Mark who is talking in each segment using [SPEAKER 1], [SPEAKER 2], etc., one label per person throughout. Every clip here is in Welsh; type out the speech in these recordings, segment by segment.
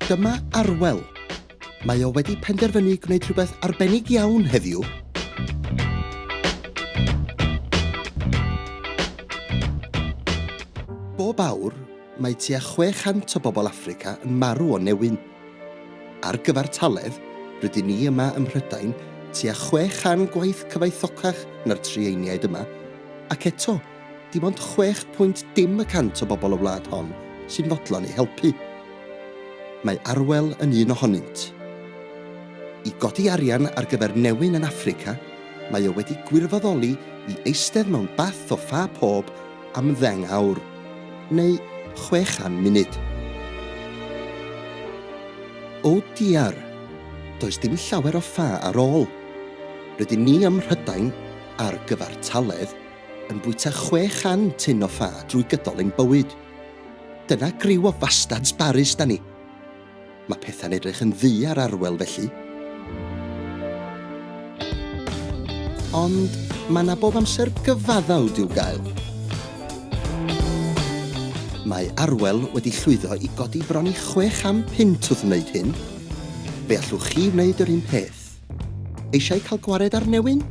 [SPEAKER 1] Dyma Arwel. Mae o wedi penderfynu gwneud rhywbeth arbennig iawn heddiw. Bob awr, mae tua 600 o bobl Africa yn marw o newyn. Ar gyfer taledd, rydyn ni yma ym Mhrydain tua 600 gwaith cyfoethocach na'r trieiniaid yma, ac eto, Dim ond chwech pwynt dim y cant o bobl y wlad hon sy'n fodlon eu helpu. Mae Arwel yn un ohonynt. I godi arian ar gyfer newyn yn Affrica, mae o wedi gwirfoddoli i eistedd mewn bath o ffa pob am ddeng awr, neu chwe chan munud. O diar! Does dim llawer o ffa ar ôl. Rydyn ni ym Mhrydain ar gyfartaledd yn bwyta chwe chan tun o ffa drwy gydol ein bywyd. Dyna griw o fastads barus 'da ni. Mae pethau'n edrych yn ddu ar Arwel felly. Ond mae 'na bob amser gyfaddawd i'w gael. Mae Arwel wedi llwyddo i godi bron i chwe cham punt wrth wneud hyn. Fe allwch chi wneud yr un peth. Eisiau cael gwared ar newyn?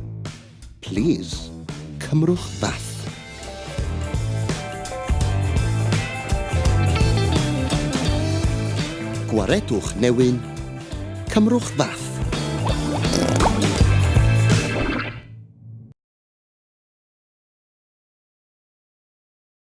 [SPEAKER 1] Plîs, cymrwch bath. Gwaredwch newyn. Cymrwch fath.